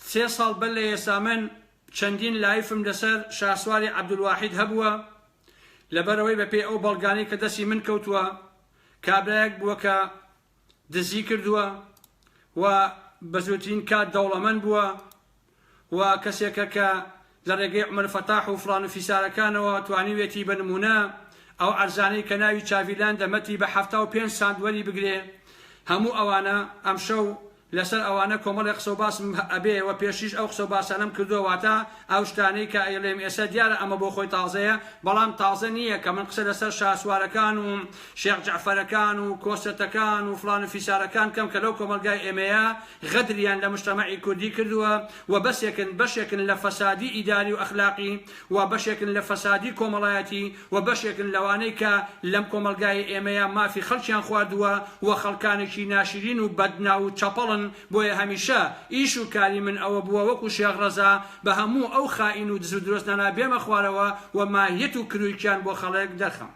سێ ساڵ بەر لە ئێستا من چەندین لایفم لەسەر شاسواری عەبدولواحید هەبووە، لەبەرئەوەی بەپێی ئەو بەڵگانەی کە دەستی من کەوتووە کابرایەک بووە کە دزی کردووە و بە زووترین کات دەوڵەمەند بووە و کەسێکە کە لە ڕێگەی عومەر فەتاح و فڵان و فیسارەکانەوە توانیوێتی بە نموونە ئەو عەرزانەی کە ناوی چاڤیلاندە مەتی بە حەفتا و پێنج سانت وەریبگرێ هەموو ئەوانە ئەمشەو لەسەر ئەوانە کۆمەڵێ قسەو باسم هە ئەبێ وە پێشتریش ئەو قسەو باسانەم کردوە واتە ئەو شتانەی کە ئەیڵێم ئێسە دیارە ئەمە بۆ خۆی تازەیە بەڵام تازە نیە کە من قسە لەسەر شاسوارەکان و شێخ جەعفەرەکان و کۆسەتەکان و فڵان و فیسارەکان کەم کە لەو کۆمەڵگای ئێمەیە غەدریان لە مشتەمەعی کوردی کردوە وە بەسێکن بەشێکن لە فەسادی ئیداری و ئەخلاقی وە بەشێکن لە فەسادی کۆمەڵایەتی و بەشێکن لەوانەی کە لەم کۆمەڵگای ئێمەیا مافی خەڵکیان خواردووە و خەڵکانێکی ناشرین و بەد ناو و چەپەڵن بۆیە هەمیشە ئیش و کاری من ئەوە بووە وەکو شێخ ڕەزا بە هەموو ئەو خائین و دز و درۆزنانە بێمە خوارەوە و ماهیەت و کرویکیان بۆ خەڵک دەرخەم.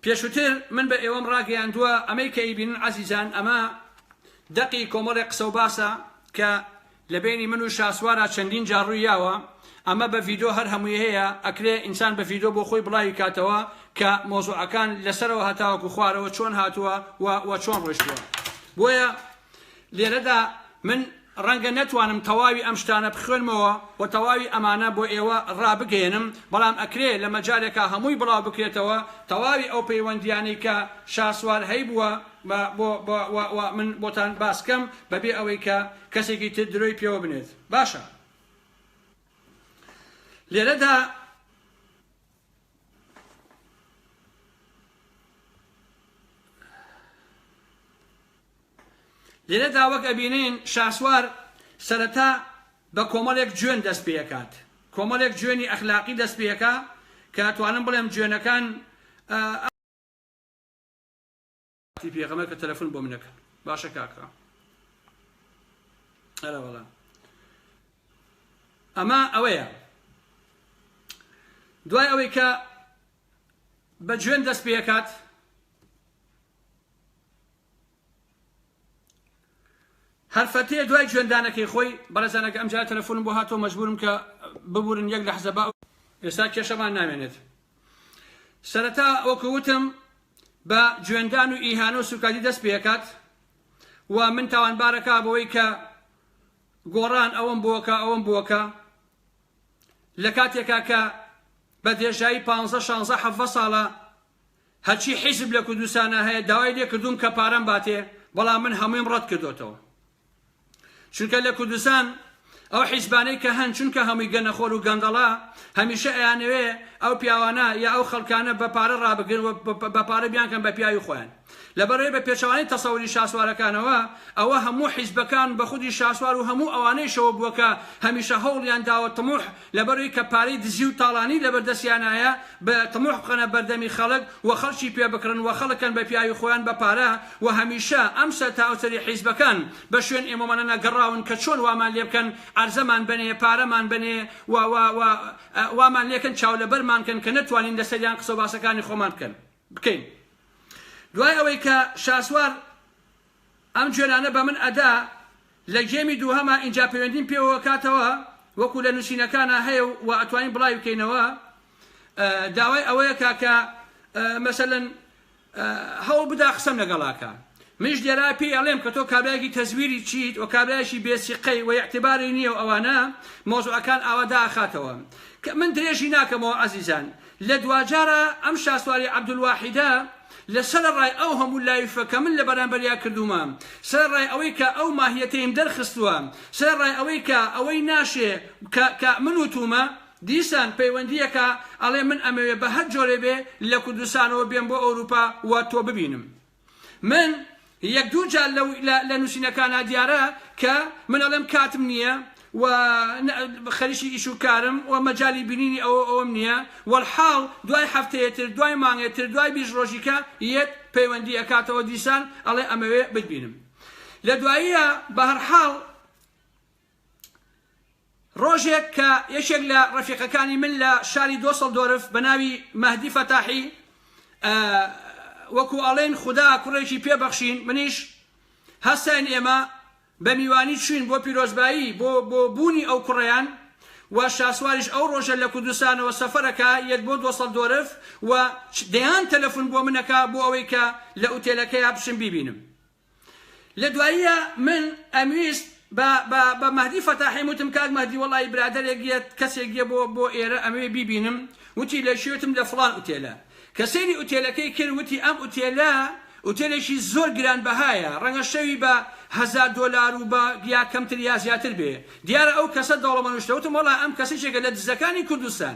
پێشوتر من بە ئێوەم ڕاگەیاندووە، ئەمەی کە ئەیبینن عەزیزان ئەمە دەقی کۆمەڵێک قسەوباسە کە لە بەینی من و شاسوارا چەندین جار ڕووی یاوە، ئەمە بە ڤیدۆ هەر هەمووی هەیە، ئەکرێ ئینسان بە ڤیدۆ بۆ خۆی بڵاوی کاتەوە کە مەوزوعەکان لە سەرەوە هەتاوەکو خوارەوە چۆن هاتووە و و چۆن ڕۆیشتووە. بۆیە. لێرەدا من ڕەنگە نەتوانم تەواوی ئەم شتانە بخوێنمەوە و تەواوی ئەمانە بۆ ئێوە ڕابگەیەنم، بەڵام ئەکرێ لە مەجالێکا هەمووی بڵاو بکرێتەوە، تەواوی ئەو پەیوەندییانەی کە شاسوار هەیبووە و من بۆتان باس کەم بە بێ ئەوەی کە کەسێکی تر درۆی پێوە بنێت. باشە. لێرەدا. لێرەدا وەک ئەبینین شاسوار سەرەتا بە کۆمەڵێک جوێن دەست پێکات کۆمەڵێک جوێنی ئەخلاقی دەست پێکا کە ئەتوانم بڵێم جوێنەکان تی پێغەمە کە تەلەفۆن بۆ منەکەن باشە کاکڕ ئەرەوەڵا ئەمە ئەوەیە دوای ئەوەی کە بە جوێن دەست پێکات هەر فەتێ دوای جوێندانەکەی خۆی بەڕێزان ئەگە ئەمجارە تەلەفۆنم بۆ هاتەوە مەجبورم کە ببورن یەک لەحزە با ئێستا کێشەمان نامێنێت سەرەتا وەکو وتم بە جوێندان و ئیهانە و سوکاتی دەست پێکات و من تاوانبارەکە بەوەی کە گۆڕان ئەوم بۆکە ئەوم بۆکە لە کاتێکا کە بە دێژایی پ شانزە حەڤە ساڵە هەرچی حیزب لە کوردستانا هەیە داوای لێ کردووم کە پارەم باتێ بەڵام من هەموویم ڕەت کردۆتەوە چونکە لە کوردستان ئەو حیزبانەی کە هەن چونکە هەمووی گەنەخۆر و گەندەڵە هەمیشە ئەیانەوێ ئەو پیاوانە یا ئەو خەڵکانە بە پارە ڕابگرن و بە پارە بیانکەن بە پیاوی خۆیان لە بەرەی بە پێچەوانەی تەسەوری شاسوارەکانەوە، ئەوە هەموو حیزبەکان بە خودی شاسوار و هەموو ئەوانەیشەوە بووە کە هەمیشە هەوڵیان داوە طموح لە بەرەی کە پارەی دزی و تاڵانی لە بەر دەستیانایە ب طموح بخەنە بەردەمی خەڵک و خەڵکی پێ بکڕن و خەڵک کەن بە پیاوی خۆیان بە پارە و هەمیشە ئەم سەر تا ئەو سەری حیزبەکان بە شوێن ئێمەوەنەنە گەڕاون کە چۆن وامان لێ بکەن عەرزەمان بەنێ پارەمان بەنێ و و و وامان لێ کەن چاو لە بەرمان کەن کە نەتوانین لە سەریان قسە و باسەکانی خۆمان بکەن. بکەین دوای ئەوەی کە شاسوار ئەم جوێنانە بە من ئەدا لە گێمی دووهەما ئینجا پەیوەندیم پێوەوە کاتەوە وەکو لە نوسینەکانا هەیە و وا ئەتوانین بڵاوی بکەینەوە داوای ئەوەیە کا کە مەسەلەن هەوڵ بدا قسەم لەگەڵا کا منیش لێرە پێی ئەڵێم کە تۆ کابرایەکی تەزویری چیت و کابرایەکی بێ سیقەی و ئیعتباری نیە و ئەوانە مەوزوعەکان ئاوا دائەخاتەوە کە من درێژی ناکەمەوە ئازیزان لە دواجارە ئەم شاسواری عەبدولواحیدە لە سەرەڕای ئەو هەموو لایفە کە من لە بەرامبەریا کردوومە سەرەڕای ئەوەی کە ئەو ماهیەتەیم دەرخستووە سەرەڕای ئەوەی کە ئەوەی ناشێ کە کە من وتوومە دیسان پەیوەندیەکە ئەڵێ من ئەمەوێ بە هەر جۆرێ بێ لە کوردستانەوە بێم بۆ ئەوروپا و تۆ ببینم. من یەک دوو جار لە لە نووسینەکانا دیارە کە من ئەڵێم کاتم نییە و خەریکی ئیش و کارم و مەجای بینینی ئەوە ئەوم نییە وەلحاڵ دوای هەفتەیەتر دوای مانگێتر دوای بیست ڕۆژیکە یەت پەیوەندی ئەکاتەوە دیسان ئەڵێ ئەمەوێ بتبینم لە دواییە بەهەرحاڵ ڕۆژێک کە یەکێک لە ڕەفیقەکانی من لە شاری دۆسەڵدۆرف بە ناوی مەهدی فەتاحی وەکو ئەڵێن خودا کوڕێکی پێبەخشین منیش هەستاین ئێمە بە میوانی چوین بۆ پیرۆزبایی بۆ بۆ بوونی ئەو کوڕیان و شاسواریش ئەو ڕۆژە لە کوردستانەوە سەفەرەکە یەت بۆ دۆسەڵ دۆرف و دەیان تەلەفون بۆ منەکە بۆ ئەوەی کە لە ئوتێلەکەی بچم بیبینم لە دواییە من ئەمویست بە بە بە مەهدی فەتاحیم وتم کاک مەهدی وەڵایی برادەرێک یە کەسێک یە بۆ بۆ ئێرە ئەمەوێ بیبینم وتی لە کوێ وتم لە فڵان ئوتێلە کە سەیری ئوتێلەکەی کرد وتی ئەم ئوتێلە ئوتێلێکی زۆر گرانبەهایە ڕەنگە شەوی بە هەزار دۆلار و بە یا کەمتر یا زیاتر بێ دیارە ئەو کەسە دەوڵەمەنوشتە وتم وەڵا ئەم کەسیچێکە لە دزەکانی کوردستان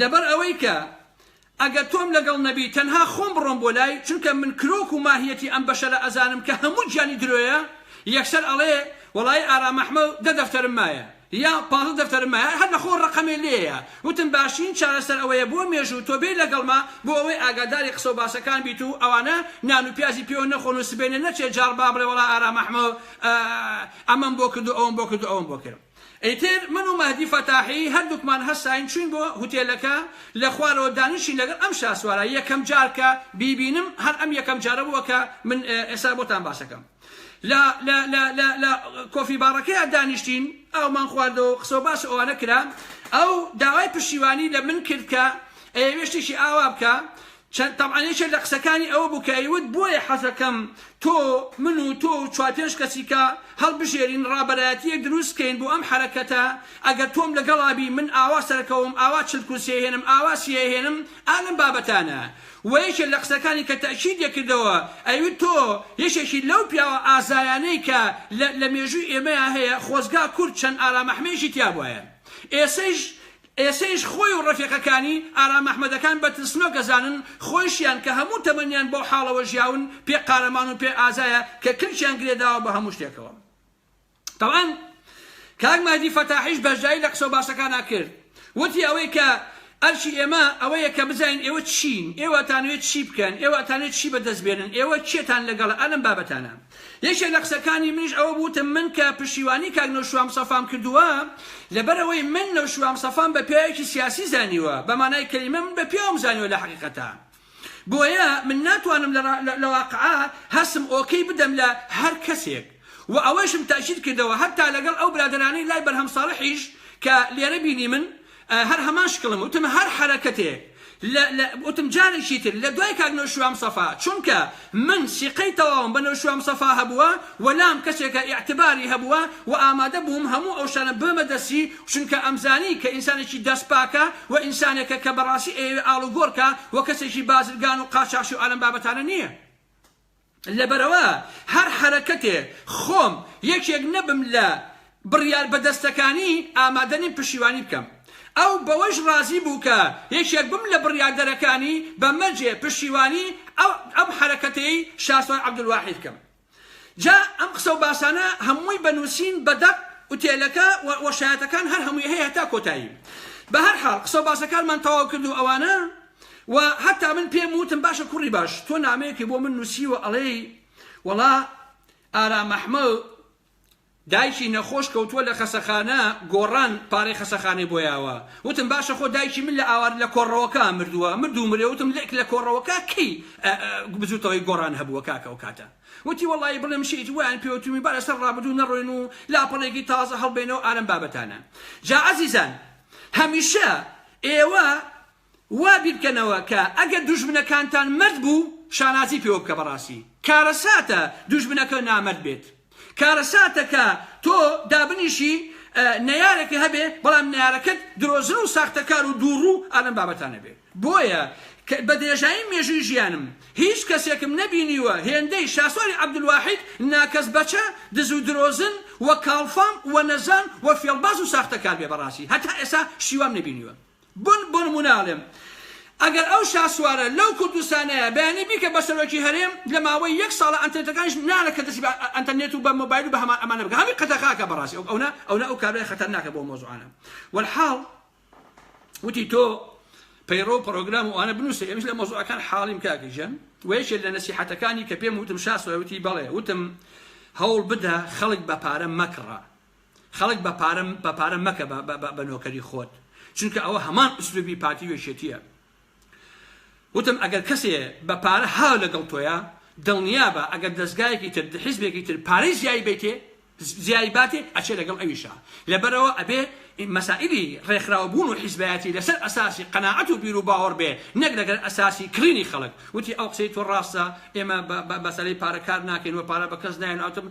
لەبەر ئەوەی کە ئەگەر تۆم لەگەڵ نەبی تەنها خۆم بڕۆم بۆ لای چونکە من کرۆک و ماهیەتی ئەم بەشەرە ئەزانم کە هەموو گیانی درۆیە یەکسەر ئەڵێ وەڵایی ئارام ئەحمە و دە دەفتەرم مایە یا پازدە دەفتەرم مایە هەر لە خۆ ڕقمێ لێیە وتم باشترین چارەسەر ئەوەیە بۆ مێژوو تۆ بێی لەگەڵما بۆ ئەوەی ئاگاداری قسە و باسەکان بیت و ئەوانە نان و پیازی پێوە نەخۆن و سبەینێ نەچێ جاڕ با بڵێ وەڵا ئارام ئەحمە ئەمەم بۆ کرد و ئەوەم بۆ کرد و ئەوەم بۆ کرد. ئیتر من و مەهدی فەتاحی هەردووکمان هەستاین چووین بۆ هوتێلەکە، لە خوارەوە دانیشین لەگەڵ ئەم شاسوارە، یەکەم جار کە بیبینم هەر ئەم یەکەم جارە بووە کە من ئێستا بۆتان باسەکەم لە لە لە لە لە کۆفی باڕەکەیا دانیشتین ئاومان خواردەوە قسەو باس ئەوانە کرا ئەو داوای پشتیوانی لە من کرد کە ئەیەوێ شتێکی ئاوا بکا چەند تەبعەن یەکێک لە قسەکانی ئەوە بوو کە ئەیوت بۆیە حەزەکەم تۆ من و تۆ و چوار پێنج کەسیکە هەڵبژێرین ڕابەرایەتییەک دروست بکەین بۆ ئەم حەرەکەتە ئەگەر تۆم لەگەڵا بی من ئاوا سەرەکەوم ئاوا چل کورسی ئەهێنم ئاوا سی ئەهێنم ئا لەم بابەتانە وە یەکێک لە قسەکانی کە تەئکید دەکردەوە ئەیوت تۆ یەکێکی لەو پیاوە ئازایانەی کە لە لە مێژووی ئێمەیا هەیە خۆزگا کورد چەند ئارامەحمەیەکی تیابوایە ئێسەیش ئێسەیش خۆی و ڕەفیقەکانی، ئارام ئەحمەدەکان، بە ترسنۆک ئەزانن، خۆیشیان کە هەموو تەمەنیان بەو حاڵەوە ژیاون، پێ قارەمان و پێ ئازایە کە کلکیان گرێ داوە بە هەموو شتێکەوە. تەبعەن کاک مەهدی فەتاحیش بەشداری لە قسەو باسەکانا کرد. وتی ئەوەی کە ئەرکی ئێمە ئەوەیە کە بزانین ئێوە چین؟ ئێوە ئەتانەوێ چی بکەن؟ ئێوە ئەتانەوێ چی بە دەست بێنن؟ ئێوە کێتان لەگەڵە ئا لەم بابەتانە؟ یەکێک لە قسەکانی منیش ئەوە بوو وتم من کە پشتیوانی کاک نەوشیروان مستەفام کردووە لەبەر ئەوەی من نەوشیروان مستەفام بە پیاوێکی سیاسی زانیوە بە مانای کەلیمە من بە پیاوم زانیوە لە حەقیقەتا بۆیە من ناتوانم لە واقعا هەستم ئۆکەی بدەم لە هەر کەسێک و ئەوەیشم تەئکید کردەوە هەتا لەگەڵ ئەو برادەرانەی لای بەرهەم ساڵحیش کە لێرە بینیمن هەر هەمان شکڵم وتم هەر حەرەکەتێک لە لە وتم جارێکی تر لە دوای کاک نەوشیروان مستەفا چونکە من سیقەی تەواوم بە نەوشیروان مستەفا هەبووە و لام کەسێکە ئیعتباری هەبووە و ئامادە بووم هەموو ئەو شتانە ببەمە دەستی چونکە ئەمزانی کە ئینسانێکی دەست پاکە و ئینسانێکە کە بەڕاستی ئەیەوێ ئاڵوگۆڕ کا و کەسێکی بازرگان و قاچاخچی و ئەلەم بابەتانە نییە. لەبەرئەوە هەر حەرەکەتێ خۆم یەکێک نەبم لە بڕیار بەدەستەکانی ئامادە نیم پشیوانی بکەم. ئەو بەوەیش ڕازی بوو کە یەکێک بم لە بڕیاردەرەکانی بە مەرجێ پشیوانی ئەم حەرەکەتەی شاسوار عەبدولواحید بکەم. جا ئەم قسە و باسانە هەمووی بە نووسین بە دەق ئوتێلەکە و شایەتەکان هەر هەمووی هەیە هەتا کۆتایی. بە هەر حاڵ قسە و باسەکانمان تەواو کرد و ئەوانە. و هەتا من پێم وتم باشە کوڕی باش تۆ نامەیەکی بۆ من نووسیوە ئەڵێی وەڵا ئارام ئەحمەد دایکی نەخۆش کەوتووە لە خەسەخانە گۆڕان پارەی خەسەخانەی بۆ یاوە وتم باشە خۆ دایکی من لە ئاوار لە کۆڕەوەکە مردووە مردوو مرێ وتم لێک لە کۆڕەوەکە کەی بزوتەوەی گۆڕان هەبووە کاکە و کاتە وتی وەڵی بڵێم شیت ویان پێوتمی بارە سەر ڕابدوو نەڕۆین و لاپەڕێکی تازە هەڵبێنەوە ئارم بابەتانە جا عزیزان هەمیشە ئێوە وا بیرکەنەوە کە ئەگەر دوژمنەکانتان مەرد بوو شانازی پێوە بکە بەڕاستی کارەساتە دوژمنەکە نامەرد بێت کارەساتە کە تۆ دابنیشی نەیارێکە هەبێ بەڵام نەیارەکەت درۆزن و ساختەکار و دووڕوو ئالەم بابەتانە بێ بۆیە بە درێژایی مێژووی ژیانم هیچ کەسێکم نەبینیوە هێندەی شاسواری عەبدولواحید ناکەس بەچە دز و درۆزن و کاڵفام و نەزان و فێڵباز و ساختەکار بێ بەڕاستی هەتا ئێسا شیوام نەبینیوە بن بۆ نمونە ئەڵێم ئەگەر ئەو شاسوارە لەو کوردستانەیە بەیانی بیکە بە سەرۆکی هەرێم لە ماوەی یەک ساڵە ئەنتەرنێتەکانیش نالە کە دەسی بە ئەنتەرنێت و بە مۆبایل و بە هەمان ئەمانە بکە هەمی قەدەخاکە بەڕاستی ئەو ئەونە ئەونە ئەو کابرای خەتەرناکە بۆ مۆزوعانە والحاڵ وتی تۆ پەیڕۆ پرۆگرام و ئەوانە بنووسە ئێمەش لە مۆزوعەکان حاڵیم کاکە ژەن وەیەکێ لە نەسیحەتەکانی کە پێم وتم شاسوار وتی بەڵێ وتم هەوڵ بدە خەڵک بە پارە مەکڕە خەڵک بە پارە بە پارە مەکە بە نۆکەری خۆت چونکە ئەوە هەمان ئسلوبی پارتی وێشێتیە وتم ئەگەر کەسێ بە پارە هاو لەگەڵ تۆیە دڵنیابە ئەگەر دەستگایەکی تر حزبێکی تر پارەی زیایی بیتێ زیای باتێ ئەچێ لەگەڵ ئەویشە لەبەرەوە ئەبێ مەسائلی ڕێکخراوەبوون و حیزبایەتی لەسەر ئەساسی قەناعەت و بیر و باوەڕ بێ نەک لەگەر ئەساسی کڕینی خەڵک وتی ئەو قسەی تۆ ڕاستە ئێمە بەسەری پارەکار ناکەین و پارە بە کەس نایەن ئەوتم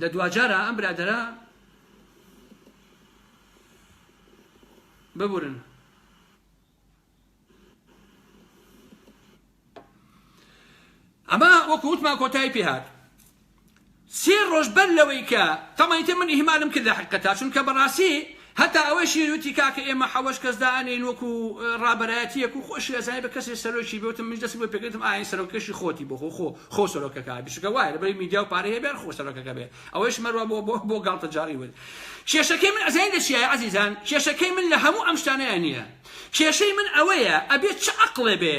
لە دواجارا ئەم برادەرە ببورن ئەمە وەکو وتمان کۆتایی پێهات سێ ڕۆژ بەر لەوەی کە تەمەیتە من ئیهمالم کرد لە حقەتا چونکە بەڕاستی هەتا ئەوەیشی وتی کاکە ئێمە حەوەش کەس دائەنێین وەکو ڕابەرایەتیەک و خۆشی ئەزانێ بە کەسێ سەرۆکی بێ وتم منیش دەستی بۆ پێکردم ئا ئەی سەرۆکەکەشی خۆتی بۆ خۆ خۆ خۆ سەرۆکەکە بێ چونکە وایە لەبەر میدیا و پارەی هەبێ هەر خۆ سەرۆکەکە بێ ئەوەیش مەروا بۆ بۆ بۆ گاڵتەجاڕی وت کێشەکەی من ئەزانین لە چیایە عەزیزان کێشەکەی من لە هەموو ئەم شتانەیە نییە کێشەی من ئەوەیە ئەبێ چ عەقڵێ بێ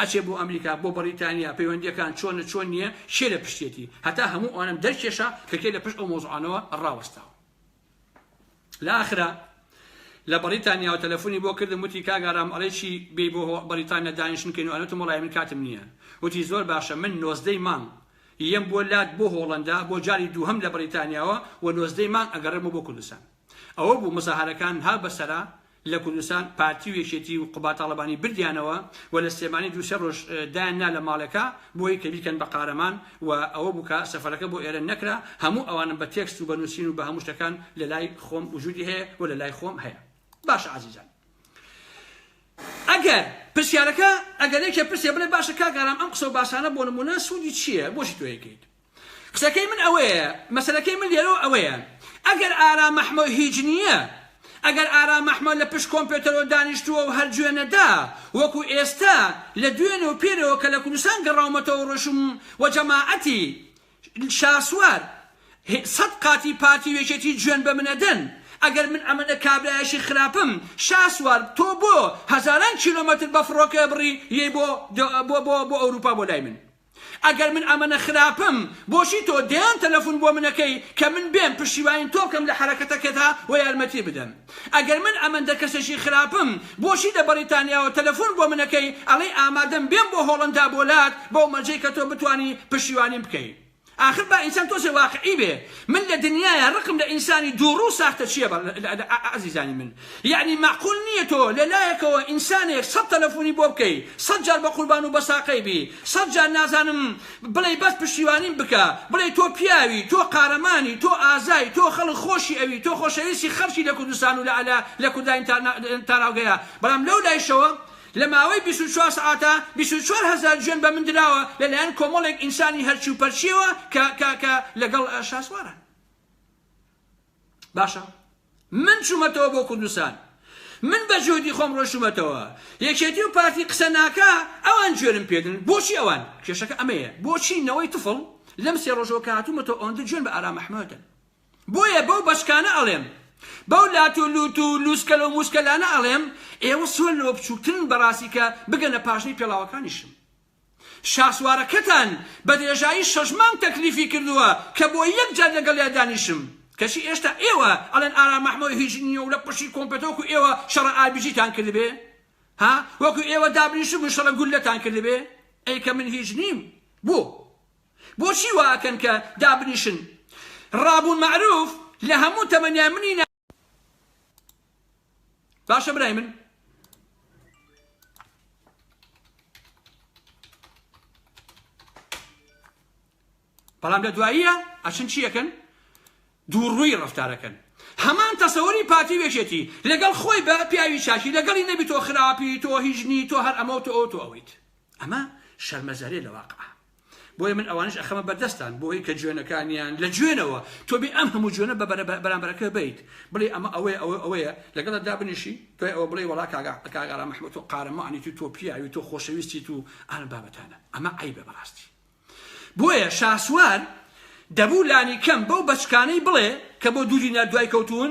ئەچێ بۆ ئەمریکا بۆ بەڕیتانیا پەیوەندیەکان چۆنە چۆن نیە کێ لە پشتیەتی هەتا هەموو ئەوانەم دەرکێشا کە کێ لە پشت ئەو مۆزوعانەوە ڕاوەستاوە لە ئاخرا لە بەڕیتانیا و تەلەفۆنی بۆ کردم وتی کاک ئارام ئەڵێ چی بێی بۆ بەڕیتانیا دانیشتن کەین و ئەنوتم وەڵای من کاتم نییە وتی زۆر باشە من نۆزدەی مانگ یەم بۆ لات بۆ هۆڵەندا بۆ جاری دووهەم لە بەڕیتانیاوە و نۆزدەی مانگ ئەگەڕێمەوە بۆ کوردستان ئەوە بوو مزاهەرەکان ها بەسەرا لە کوردستان پارتی و یەکێتی و قوباد تاڵەبانی بردیانەوە و لە سلێمانی دوو سێ ڕۆژ دایان نا لە ماڵێکا بۆی کە بیکەن بە قارەمان و ئەوە بوو کە سەفەرەکە بۆ ئێرە نەکرا هەموو ئەوانم بە تێکست و بە نووسین و بە هەموو شتەکان لە لای خۆم وجودی هەیە و لە لای خۆم هەیە باشە عزیزان ئەگەر پرسیارەکە ئەگەر یەکێ پرسێ بڵێ باشە کاک ئارام ئەم قسە و باسانە بۆ نموونە سوودی چییە بۆچی تۆ یەکەیت قسەکەی من ئەوەیە مەسەلەکەی من لێرەوە ئەوەیە ئەگەر ئارام مەحمۆ هیچ نییە ئەگەر ئارام مەحمۆ لە پشت کۆمپێتەرەوە دانیشتووە و هەر جوێن نەدا وەکو ئێستا لە دوێنێ و پێرەوە کە لە کوردستان گەڕاومەتەوە ڕۆیشتم و جەماعەتی شاسوار سەد قاتی پارتی و یەکێتی جوێن بە من ئەدەن ئەگەر من ئەمەنە کابرایەشی خراپم شاسوار تۆ بۆ هەزاران کیلۆمەتر بە فڕۆکە بڕی یەی بۆ بۆ بۆ بۆ ئەوروپا بۆ لای من ئەگەر من ئەمەنە خراپم بۆچی تۆ دەیان تەلەفون بۆ من ئەکەی کە من بێم پشتیوانی تۆ بکەم لە حەرەکەتەکەتا و یارمەتی بدەم ئەگەر من ئەمەندە کەسێکی خراپم بۆچی لە بەڕیتانیاوە تەلەفون بۆ من ئەکەی ئەڵێی ئامادەم بێم بۆ هۆڵەندا بۆ لات بەو مەرجەی کە تۆ بتوانی پشتیوانیم بکەی ئاخر با ئینسان تۆزێ واقعی بێ من لە دنیایە ڕقم لە ئینسانی دووڕوو ساختەچیە ئەزیزانی من یەعنی مەعقول نیە تۆ لە لایەکەوە ئینسانێک سەد تەلەفونی بۆ بکەی سەد جار بە قوربان و بەساقەی بی سەد جار نازانم بڵێی بەس پشتیوانیم بکە بڵێی تۆ پیاوی تۆ قارەمانی تۆ ئازای تۆ خەڵک خۆشی ئەوی تۆ خۆشەویستی خەڵکی لە کوردستان و لە لە لە کورداین تا تاراوگەیە بەڵام لەو لایشەوە لە ماوەی بیست و چوار سەعاتا بیست و چوار هەزار جوێن بە من دراوە لە لایەن کۆمەڵێک ئینسانی هەرچی و پەرچیەوە کە کە کە لەگەڵ شاسوارە باشە من چوومەتەوە بۆ کوردستان من بە جۆدی خۆم ڕۆشتومەتەوە یەکێتی و پارتی قسە ناکە ئەوان جوێنم پێدن بۆچی ئەوان کێشەکە ئەمەیە بۆچی نەوەی تفڵ لەم سێ ڕۆژەوە کاتومەتەوە ئەوەندە جوێن بە ئارام محمەدن بۆیە بەو بەشکانە ئەڵێم بەو لات و لوت و لوسکەلە و موسکەلانە ئەڵێم ئێوە سۆن لەوە بچووکترن بەڕاستی کە بگەنە پاشنەی پێڵاوەکانیشم شاسوارەکەتان بە درێژایی شەش مانگ تەکلیفی کردووە کە بۆ یەک جار لەگەڵیا دانیشم کەچی ئێشتا ئێوە ئەڵێن ئارام مەحمۆد هیچ نییە و لە پشتی کۆمپێتە وەکو ئێوە شەڕە ئاربیجیتان کردبێ ها وەکو ئێوە دابنیشتبوون شەڕە گوللەتان کردبێ ئەی کە من هیچ نیم بۆ بۆچی وا ئەکەن کە دابنیشن ڕابوون مەعروف لە هەموو تەمەنیان منی باشە برای من بەڵام لە دواییە ئەچن چیەکەن دووڕووی ڕفتارەکەن هەمان تەسەوەری پارتی وێشێتی لەگەڵ خۆی بە پیاوی چاشی لەگەڵی نەبی تۆ خراپی تۆ هیژنی تۆ هەر ئەمە و تۆ ئەو تۆ ئەویت ئەمە شەرمەزارێ لە واقع بۆیە من ئەوانش ئەخەمە بەردەستان بۆی کە جوێنەکانیان لە جوێنەوە تۆ بێ ئەم هەموو جوێنە بە بەرامبەرەکە بیت بڵێ ئەمە ئەوەیە ئەوە ئەوەیە لەگەڵ دابنیشی دوای ئەوە بڵێ وڵا کاگا کاگارا مححمود و قارەمانی تو تۆ پیاوی تۆ خۆشەویستی تو ئەم بابەتانە ئەمە عیبە بەڕاستی بۆیە شاسوار دەبوو لانی کەم بەو بەچکانەی بڵێ کە بۆ دوو دینار دوای کەوتون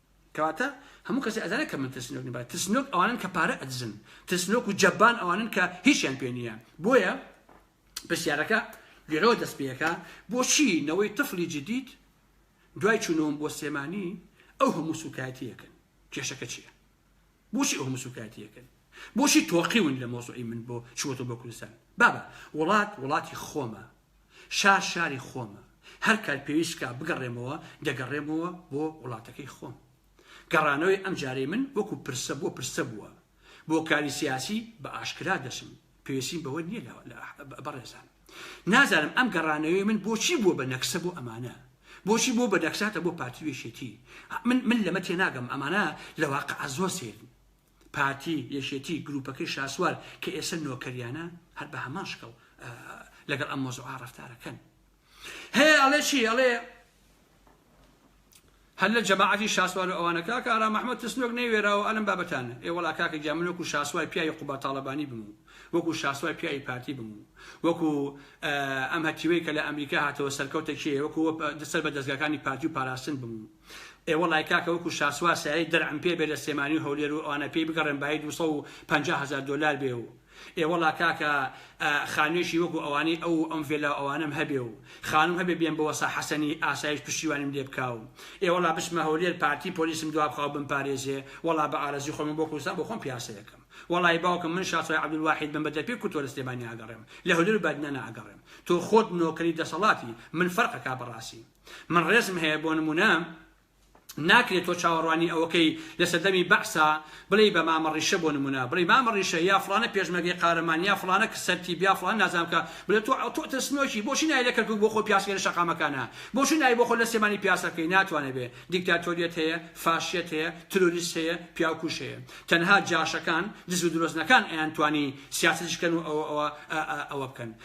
کەواتە هەموو کەسێ ئەزانێ کە من ترسنۆک نیم بەڵێ ترسنۆک ئەوانن کە پارە ئەدزن ترسنۆک و جەبان ئەوانن کە هیچیان پێ نییە بۆیە پرسیارەکە لێرەوە دەست پێەکە بۆچی نەوەی تفلی جدید دوای چوونەوەم بۆ سێمانی ئەو هەموو سوکایەتیەکەن کێشەکە چییە بۆچی ئەو هەموو سوکایەتیەکەن بۆچی تۆقیون لە مۆزوعی من بۆ چوەتە بۆ کوردستان بابە وڵات وڵاتی خۆمە شار شاری خۆمە، هەر کات پێویست بکا بگەڕێمەوە دەگەڕێمەوە بۆ وڵاتەکەی خۆم. گەڕانەوەی ئەم جارەی من وەکو پرسە بۆ پرسە بووە. بۆ کاری سیاسی بە ئاشکرا دەچم، پێویستیم بەوە نییە لە بەڕێزان. نازانم ئەم گەڕانەوەی من بۆچی بووە بە نەکسە بۆ ئەمانە؟ بۆچی بووە بە نەکساتە بۆ پارتی و یەکێتی؟ من من لەمە تێناگەم، ئەمانە لە واقع زۆر سەیرن. پارتی، یەکێتی، گروپەکەی شاسوار کە ئێسە نۆکەریانە هەر بە هەمان شکڵ لەگەڵ ئەم مۆزوعا ڕەفتارەکەن. هەیە ئەڵێ چی ئەڵێ هەر لە جەماعەتی شاسوار و ئەوانە کاکە ئارام ئەحمەد ترسنۆک نەیوێراوە ئەلم بابەتانە ئێ وەڵا کاکە گیان من وەکو شاسوای پیاوی قوباد تاڵەبانی بم و وەکو شاسوای پیاوی پارتی بم و وەکو ئەم هەتیوەی کە لە ئەمریکا هاتەوە سەرکەوتە کێ وەکو سەر بە دەستگاکانی پارتی و پاراستن بم و ئێ وەڵای کاکە وەکو شاسوار سایەی دەرعم پێ بێ لە سلێمانی و هەولێر و ئەوانە پێی بگەڕێم بایی دوو سەد و پەنجا هەزار دۆلار بێ و ئێ وەڵا کاکە خانوێکی وەکو ئەوانەی ئەو و ئەم ڤێلا و ئەوانەم هەبێ و خانوم هەبێ بێم بۆ وەسا حەسەنی ئاسایش پشتیوانیم لێ بکا و ئێ وەڵا بچمە هەولێر پارتی پۆلیسم دوا بخا و بمپارێزێ وەڵا بە ئارەزوی خۆم بۆ کوردستان بۆ خۆم پیاسە ئەکەم وەڵای باوکم من شاسوای عەبدولواحید بم بە دەرپێ کورد تۆ لە سلێمانی ئاگەڕێم لە هەولێر و بادینان ئاگەڕێم تۆ خۆت نۆکەری دەسەڵاتی من فەرق ئەکا بەڕاسی من ڕێزم هەیە بۆ نمونە ناکرێت تۆ چاوەڕوانی ئەوەکەی لە سەردەمی بەعسا بڵێی بە مامە ڕیشە بۆ نمونە بڵێی مامە ڕیشە یا فڵانە پێشمەرگەی قارەمان یا فڵانە کە سەرتیب یا فڵان نازانم کە بڵێ تۆ ئەو تۆ ترسنۆکی بۆچی نای لە کەرکوک بۆ خۆ پیاسەکەی لە شەقامەکانە بۆچی نای بۆ خۆ لە سێمانی پیاسە بکەی ناتوانێ بێ دیکتاتۆریەت هەیە فاشیەت هەیە تروریست هەیە پیاوکوش هەیە تەنها جاشەکان دز و درۆزنەکان ئەیانتوانی سیاسەتیش کەن و ئەوە ئەوە ئەوە بکەن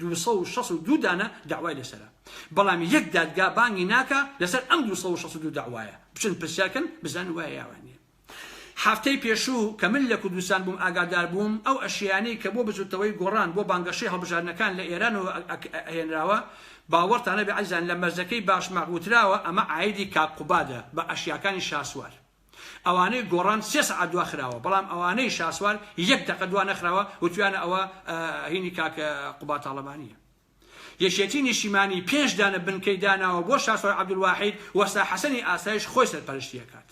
دوو سەد و شەست و دوو دانە دەعوای لەسەرە بەڵام یەک دادگا بانگی ناکا لەسەر ئەم دوو سەد و شەست و دوو دەعوایە بچن پرسیار کەن بزانن وایە یاوان نیە هەفتەی پێشوو کە من لە کوردستان بووم ئاگادار بووم ئەو ئەشیانەی کە بۆ بزوتنەوەی گۆڕان بۆ بانگەشەی هەڵبژاردنەکان لە ئێرانەوە ئەهێنراوە باوەڕتانەبێ ئەزیزان لە مەرزەکەی باشماخ وتراوە ئەمە عایدی کاک قوبادە بە ئەشیاکانی شاسوار ئەوانەی گۆڕان سێ سەعات دوا خراوە بەڵام ئەوانەی شاسوار یەک دەقە دوا نەخراوە وتویانە ئەوە هینی کاک قوباد تاڵەبانیە یەکێتی نیشیمانی پێنج دانە بنکەی داناوە بۆ شاسوار عەبدولواحید وەستا حەسەنی ئاسایش خۆی سەرپەرشتی ئەکات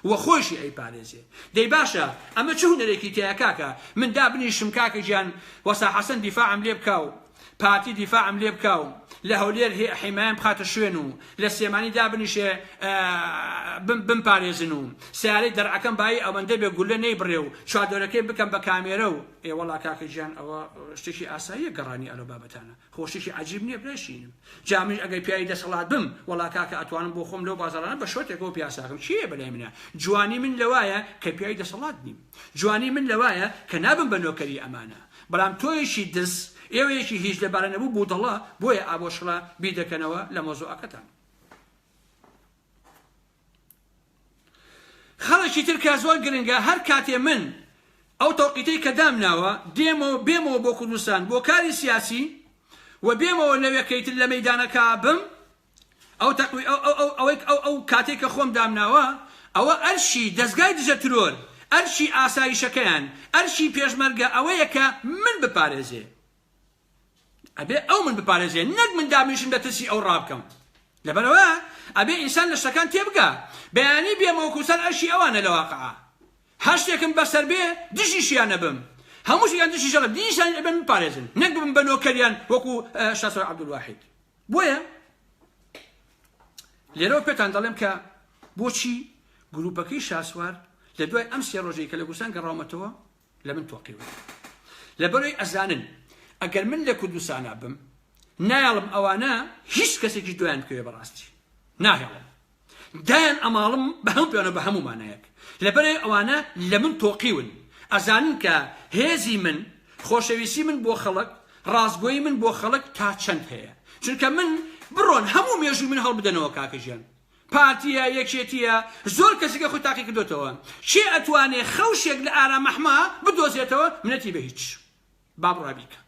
و خۆشی ئەی پارێزێ دەی باشە ئەمە چ هونەرێکی تیایە کاکە من دابنیشم کاکە گیان وەستا حەسەن دیفاعم لێ بکا و پارتی دیفاعم لێ بکا و لە هەولێر حیمایم بخاتە شوێن و لە سلێمانی دابنیشێ بمپارێزن و سیارەی دەرعەکەم بایی ئەوەندە بێ گولە نەیبڕێ و چواردۆرەکەی بکەم بە کامێرە و ئێ وەڵا کاکە گیان ئەوە شتێکی ئاساییە گەڕانی ئەلۆ بابەتانە خۆ شتێکی عەجیب نییە برای شیرینم جا منیش ئەگەر پیاوی دەسەڵات بم وەڵا کاکە ئەتوانم بۆ خۆم لەو بازاڕانە بە شۆرتێکەوە پیاساکەم چییە بەلای منە جوانی من لەوایە کە پیاوی دەسەڵات نیم جوانی من لەوایە کە نابم بە نۆکەری ئەمانە بەڵام تۆیەکی دز ئێوەیەکی هیچ لەبارە نەبوو بودەڵە بۆیە ئابۆشڕە بیر دەکەنەوە لە مەوزوعەکەتان. خەڵکی تر کە زۆر گرنگە هەر کاتێ من ئەو تەوقیتەی کە دامناوە دێمەوە بێمەوە بۆ کوردستان بۆ کاری سیاسی و بێمەوە لەوێ کەیتر لە مەیدانەکە بم ئەو تەقوی ئەو ئەو ئەو ئەوەی ئەو ئەو کاتەی کە خۆم دامناوە ئەوە ئەرشی دەزگای دژە ترۆر ئەرشی ئاسایشەکەیان ئەرشی پێشمەرگە ئەوەیە کە من بپارێزێ ئەبێ ئەو من بپارێزێ نەک من دابنیشم لە ترسی ئەو ڕابکەم لەبەرەوە ئەبێ ئینسان لە شتەکان تێبگا بەیانی بێ مەوکوسەر ئەرشی ئەوانە لە واقعا هەشتێکم بەسەر بێ دژیشیان نەبم هەمووش یان دژی ژەڵە دینیشان ئەبێن بپارێزن نەک بم بە نۆکەریان وەکو شاسۆر عەبدولواحید بۆیە لێرەوە پێتان دەڵێم کە بۆچی گروپەکەی شاسوار لە دوای ئەم سێ ڕۆژەی کە لە کوردستان گەڕاومەتەوە لە من تۆقیوە لەبەرەوەی ئەزانن ئەگەر من لە کوردستانە بم نایڵم ئەوانە هیچ کەسێکی دویان بکەوێ بەڕاستی ناهێڵم دایان ئەماڵم بە هەموو پێوانەوە بە هەموو مانایەک لەبەرئەوەی ئەوانە لە من تۆقیون ئەزانن کە هێزی من خۆشەویستی من بۆ خەڵک ڕاستگۆی من بۆ خەڵک تا چەند هەیە چونکە من بڕۆن هەموو مێژوو من هەڵبدەنەوە کاکە ژیان پارتیە یەکێتیە زۆر کەسیکە خۆی تاقی کردوتەوە چێ ئەتوانێ خەوشێک لە ئارامەحما بدۆزێتەوە منەتی بە هیچ با بڕای بیکە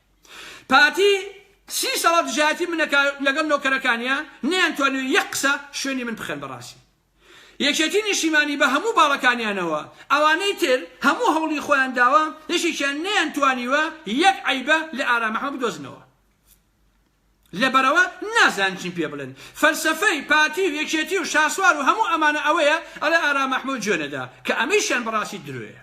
پارتی سی ساڵە دژایەتی من دەکا لەگەڵ نۆکەرەکانیا نەیانتوانیوە یەک قسە شوێنی من بخەن بەڕاستی یەکێتی نیشیمانی بە هەموو باڵەکانیانەوە ئەوانەی تر هەموو هەوڵی خۆیان داوە یەکێکیان نەیانتوانیوە یەک عەیبە لە ئارام ئەحمەد بدۆزنەوە لەبەرەوە نازان چیم پێ بڵێن فەلسەفەی پارتی و یەکێتی و شاسوار و هەموو ئەمانە ئەوەیە ئەڵێ ئارام ئەحمەد جوێنەدا کە ئەمەیشیان بەڕاستی درۆیە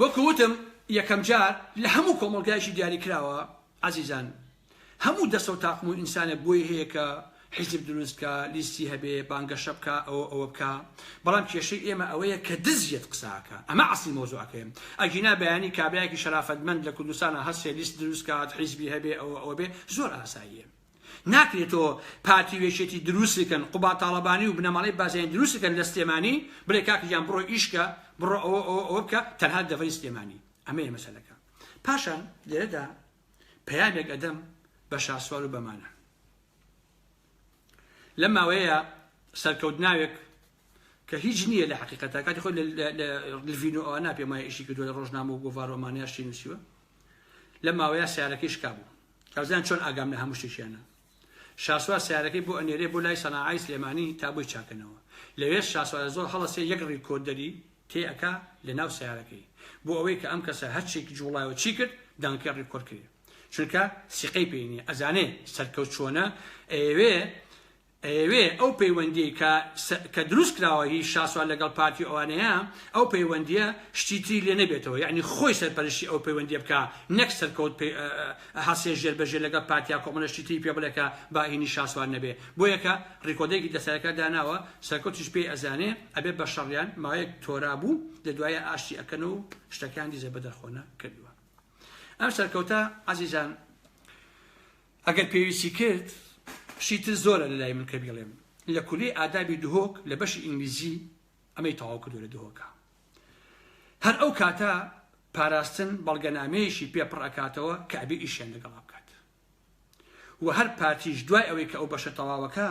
وەکو وتم یەکەم جار لە هەموو کۆمەڵگایەکی دیاریکراوە عەزیزان هەموو دەستە و تاقم و ئینسانێک بۆی هەیە کە حیزب دروست بکا لیستی هەبێ بانگەشە بکا ئەوە ئەوە بکا بەڵام کێشەی ئێمە ئەوەیە کە دزیەت قساکە ئەمە عەسلی مەوزوعەکەیم ئەگینا بەیانی کابرایەکی شەرافەتمەند لە کوردستانە هەسێ لیست دروست کات حیزبی هەبێ ئەوە ئەوە بێ زۆر ئاساییە ناکرێ تۆ پارتی و یەکێتی دروست بکەن قوباد تاڵەبانی و بنەماڵەی بازیانی دروست بکەن لە سلێمانی بڵێ کاک گیان بڕۆ ئیش کە بڕۆ ئەوە ئەوە ئەوە بکە تەنها دەڤەری سلێمانی ئەمەیە مەسەلەکە پاشان لێرەدا پەیامێک ئەدەم بە شاسوار و بەمانە لەم ماوەیە سەرکەوت ناوێک کە هیچ نییە لە حقیقەتە کاتی خۆی لڤین و ئەوە ناپێمای ئیشی کردو لە ڕۆژنامە و گۆڤارۆمانیاشی نووسیوە لە ماوەیە سیارەکەی شکابوو تازیان چۆن ئاگام لە هەموو شتێکیانە. شاسوار سەیارەکەی بۆ ئەنێرێ بۆ لای سەناعای سلێمانی تا بۆی چاکەنەوە. لەوێش شاسوارە زۆر هەڵەسێ یەک ڕیکۆردەری تێ ئەکا لە ناو سەیارەکەی. بۆ ئەوەی کە ئەم کەسە هەر چیک جوڵای و چی کرد دەنگەکەی ڕیکۆرد کرێ. چونکە سیقەی پێی نیە ئەزانێ سەرکەوت چۆنە ئەیەوێ ئەیەوێ ئەو پەیوەندیەی کە کە دروست کراوە هی شاسوار لەگەڵ پارتی و ئەوانەیە ئەو پەیوەندیە شتی تری لێ نەبێتەوە یەعنی خۆی سەرپەرشتی ئەو پەیوەندیە بکا نەک سەرکەوت پێ هەسێ ژێر بە ژێر لەگەڵ پارتیا کۆمەڵە شتی تری پێ بڵێ کە با هینی شاسوار نەبێ بۆیە کە ڕیکۆدەرێکی دەسەرەکە داناوە سەرکەوتیش پێی ئەزانێ ئەبێ بە شەڕیان ماوەیەک تۆرا بوو لە دوایە ئاشتی ئەکەن و شتەکان دیزە بەدەرخۆنە کردوە ئەم سەرکەوتە عەزیزان ئەگەر پێویستی کرد شتی تر زۆرە لە لای من کە بیڵێم لە کولەی ئادابی دهۆک لە بەشی ئینگلیزی ئەمەی تەواو کردو لە دهۆکە هەر ئەو کاتە پاراستن بەڵگەنامەیەشی پێ پڕ ئەکاتەوە کە ئەبێ ئیشیان لەگەڵا بکات و هەر پارتیش دوای ئەوەی کە ئەو بەشە تەواوەکە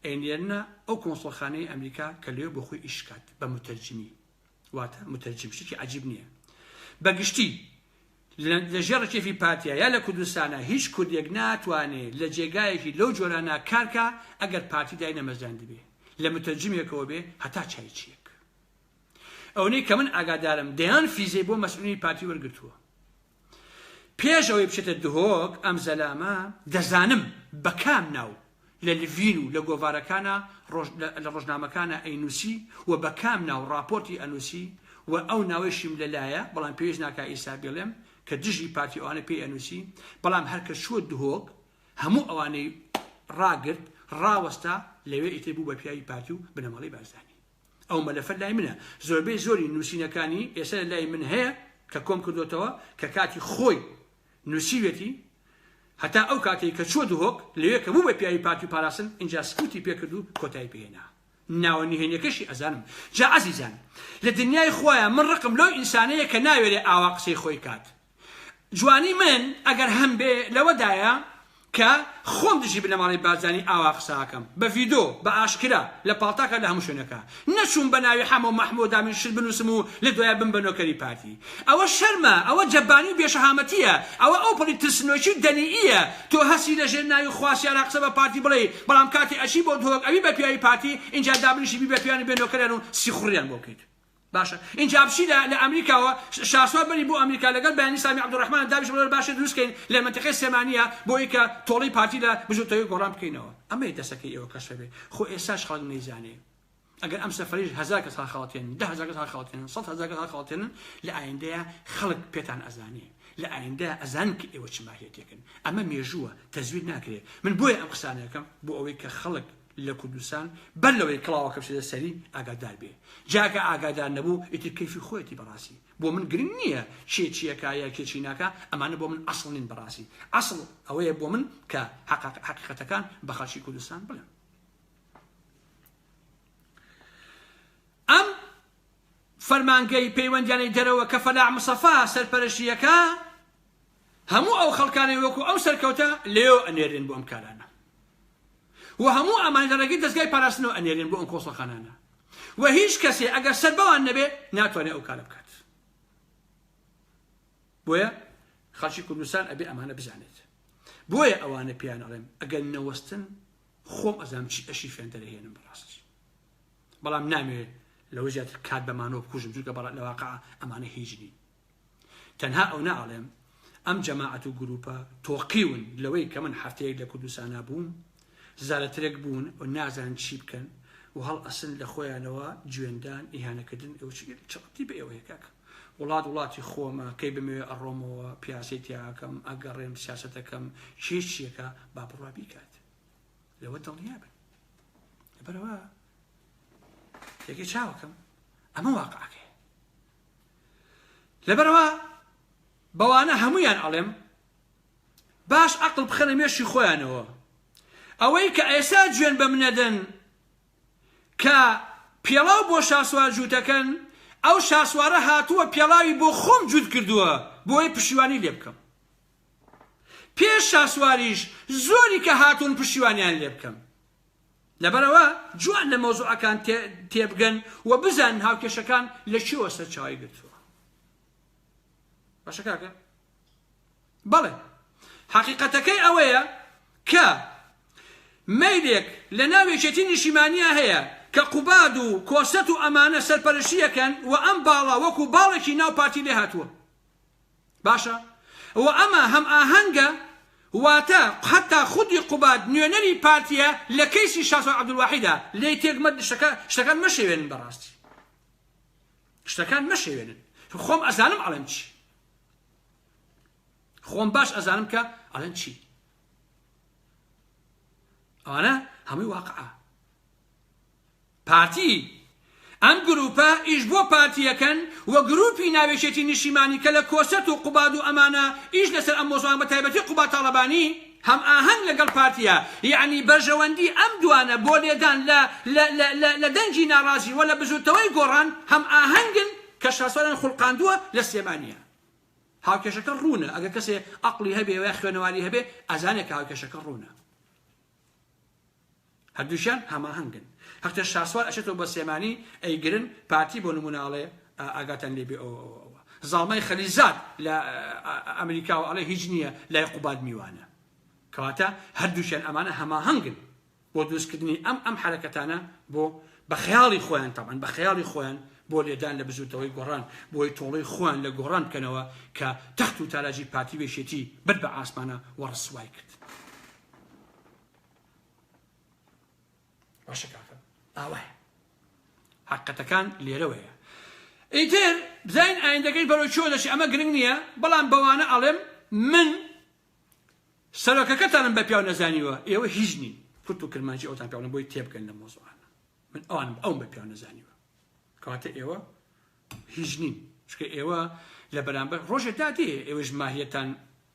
ئەینێرنە ئەو کۆنسڵخانەی ئەمریکا کە لێ بۆ خۆی ئیشکات بە متەرجمی واتە متەرجم شتێکی عجیب نییە بە گشتی لە ژێڕ کێفی پارتیا یا لە کوردستانە هیچ کوردێک ناتوانێ لە جێگایەکی لەو جۆرانە کارکە ئەگەر پارتی دای نەمەزراند بێ لە متەرجمێکەوە بێ هەتا چای چیەک ئەونەی کە من ئاگادارم دەیان فیزەی بۆ مەسئولی پارتی وەرگتووە پێش ئەوەی بچێتە دهۆک ئەم زەلامە دەزانم بە کام ناو لە لڤین و لە گۆڤارەکانە لە ڕۆژنامەکانە ئەینوسی و بە کام ناو ڕاپۆرتی ئەنوسی و ئەو ناوەیشیم لەلایە بەڵام پێویست ناکە ئیسا بڵێم کە دژی پارتی ئەوانە پێی ئەنوسی بەڵام هەرکە چووە دهۆک هەموو ئەوانەی ڕاگرت ڕاوەستا لەوێ ئیتر بوو بە پیاوی پارتی و بنەماڵی بارزانی ئەو مەلەفە لای منە زۆربەی زۆری نووسینەکانی ئێستا لە لای من هەیە کە کۆم کردوتەوە کە کاتی خۆی نووسیوێتی هەتا ئەو کاتێک کە چوە دهۆک لەوێ کە بوو بە پیاوی پارتی و پاراستن اینجا سکوتی پێکرد و کۆتایی پێهێنا ناوە نهێنیەکەشی ئەزانم جا عزیزان لە دنیای خوایە من ڕقم لەو ئینسانەیە کە ناوێرێ ئاوا قسەی خۆی کات جوانی من ئەگەر هەمبێ لەوەدایە کە خۆم دژی بنەماڵەی بارزانی ئاوا قسە ئەکەم بە ڤیدۆ بە ئاشکرا لە پاڵتاکە لە هەموو شوێنەکا نەچووم بە ناوی حەمە و مەحموو دامین شت بنووسم و لە دوایە بم بە نۆکەری پارتی ئەوە شەرمە ئەوە جەبانی و بێ شەهامەتیە ئەوە ئەو پەڕی ترسنۆکی و دەنییە تۆ هەستی لە ژێر ناوی خواسیارا قسە بە پارتی بڵێی بەڵام کاتێ ئەچی بۆ دهۆک ئەبی بە پیاوی پارتی ئینجا دابنیشی بی بە پیاوان و بێ نۆکەریان و سیخوڕیان بۆ بکەیت باشە ئینجا بچی لە لە ئەمریکاوە شاسوار بەری بۆ ئەمریکا لەگەڵ بەیانی سامی عەبدولرەحمان دابیش بڵێ باشە دروست کەین لە مەنتەقەی سلێمانیە بۆ ئەوی کە تۆڵەی پارتی لە بزوتەوەی گۆڕان بکەینەوە ئەمەیە دەسەکەی ئێوە کەشفە بێ خۆ ئێساش خەڵک نەیزانێ ئەگەر ئەم سەفەریش هەزار کەس هەڵخەڵەتێنن دە هەزار کەس هەڵخەڵەتێنن سەد هەزار کەس هەڵخەڵەتێنن لە ئایندەیە خەڵک پێتان ئەزانێ لە ئایندە ئەزان کە ئێوە چ ماهیەتێکن ئەمە مێژووە تەزویر ناکرێت من بۆیە ئەم قسانەکەم بۆ ئەوەی کە خەڵک لە کوردستان بەر لەوەی کڵاوەکە بچێتە سەری ئاگادار بێ جاکە ئاگادار نەبوو ئیتر کەیفی خۆیەتی بەڕاستی بۆ من گرنگ نییە کێ چیەکە یا کێ چی ناکە ئەمانە بۆ من ئەسڵ نین بەڕاستی ئەسڵ ئەوەیە بۆ من کە حقیقەتەکان بە خەڵکی کوردستان بڵێن ئەم فەرمانگەی پەیوەندیانەی دەرەوە کە فەلاح مسەفا سەرپەرشتیەکە هەموو ئەو خەڵکانەی وەکو ئەم سەرکەوتە لێیەوە ئەنێرێن بۆ ئەم کارانە و هەموو ئەمان لە ڕێگەی دەزگای پاراستنەوە ئەنێرێن بۆ ئەم کۆسەخانانە و هیچ کەسێ ئەگەر سەر بەوان نەبێ ناتوانێت ئەو کارە بکات بۆیە خەڵکی کوردستان ئەبێ ئەمانە بزانێت بۆیە ئەوانە پێیان ئەڵێم ئەگەر نەوەستن خۆم ئەزام چی ئەشی فێندەرهێنم بەڕاستی بەڵام نامێ لەوە زیاتر کات بەمانەوە بکوژم جوکە بەڵات لەواقع ئەمانە هیچ نین تەنها ئەونە ئەڵێم ئەم جەماعەت و گروپە تۆقیون لەوەی کە من حەفتەیەک لە کوردستانا بووم زارەترێک بوون و نازان چی بکەن و هەڵ ئەسن لە خۆیانەوە جوێندان ئیهانەکردن چڕتی بە ئێوەیە کاکە وڵات وڵاتی خۆمە کەی بمەوێ ئەڕۆمەوە پیاسی تیاکەم ئەگەڕێم سیاستەکەم چێچیەکە با بڕوا بیکات لەوە دڵنیا بن بەرەوە تێگەی چاوەکەم ئەمە واقعەکەی لەبەرئەوە بەوانە هەموویان ئەڵێم باش ئەقڵ بخەنە مێشی خۆیانەوە ئەوەی کە ئێسا جوێن بە منەدەن کە پێڵاو بۆ شاسوار جووتەکەن ئەو شاسوارە هاتووە پێڵاوی بۆ خۆم جووت کردووە بۆی پشیوانی لێ بکەم پێش شاسواریش زۆری کە هاتوون پشیوانیان لێ بکەم لەبەرئەوە جوان لە مەوزوعەکان تێبگەن و بزانن هاوکێشەکان لە چیەوە سەرچاوی گرتووە باشە کاکە بەڵێ حەقیقەتەکەی ئەوەیە کە مەیلێک لە ناو یەکێتی نیشیمانیا هەیە کە قوباد و کۆسەت و ئەمانە سەرپەرشیەکەن و ئەم باڵا وەکو باڵێکی ناو پارتی لێ هاتووە باشە و ئەمە هەم ئاهەنگە واتە حتا خودی قوباد نوێنەری پارتیە لە کەیسی شاسوار عەبدولواحیدا لێی تێک مەت شتەکە شتەکان مەشێوێنن بەڕاستی شتەکان مەشێوێنن خۆم ئەزانم ئەڵێم چی خۆم باش ئەزانم کە ئەڵێن چی ئەوانە هەمووی واقعە پارتی، ئەم گروپە ئیش بۆ پارتی ئەکەن و گروپی ناوێکێتی نیشیمانی کە لە کۆسرەت و قوباد و ئەمانە ئیش لەسەر ئەم مۆزوعان بە تایبەتی قوباد تاڵەبانی هەم ئاهەنگ لەگەڵ پارتیە یەعنی بەرژەوەندی ئەم دوانە بۆ لێدان لە لە لە لە لە دەنگی ناڕازی وە لە بزوتنەوەی گۆڕان هەم ئاهەنگن کە شاسوالیان خولقاندوە لە سلێمانیە هاوکێشەکە ڕوونە ئەگەر کەسێ ئەقڵی هەبێ وە خوێنەواری هەبێ ئەزانێ کە هاوکێشەکە ڕوونە. هەردووکیان هەماهەنگن هەقێ شاسوار ئەچێتەوە بۆ سلێمانی ئەیگرن پارتی بۆ نمونە ئەڵێ ئاگاتان لێ بێ ئەوە ئەوە ئەوە زاڵمای خەلیزاد لە ئەمریکاوە ئەڵێ هیچ نییە لای قوباد میوانە کەواتە هەردووکیان ئەمانە هەماهەنگن بۆ دروستکردنی ئەم ئەم حرەکەتانە بۆ بە خەیاڵی خۆیان تەمان بە خەیاڵی خۆیان بۆ لێدان لە بزوتەوەی گۆڕان بۆی تۆڵی خۆیان لە گۆڕان بکەنەوە کە تەخت و تاراجی پارتی وێشێتی برد بە ئاسمانە و ڕسوای کرد. باشە کاکە ئاوایە حقەتەکان لێرەوەیە ئیتر بزین ئایندەکەی بەرەو چۆ دەشی ئەمە گرنگ نییە بەڵام بەوانە ئەڵێم من سەرۆکەکەتانم بە پیاو نەزانیوە ئێوە هیچ نین کورت و کرمانجی ئەوتان پیاڵم بۆی تێبگەن لە مۆزوعانە من ئەوان ئەو بە پیاو نەزانیوە کەواتە ئێوە هیچ نین چکە ئێوە لە بەرامبەر ڕۆژێ دادێ ئێوەش ماهیەتان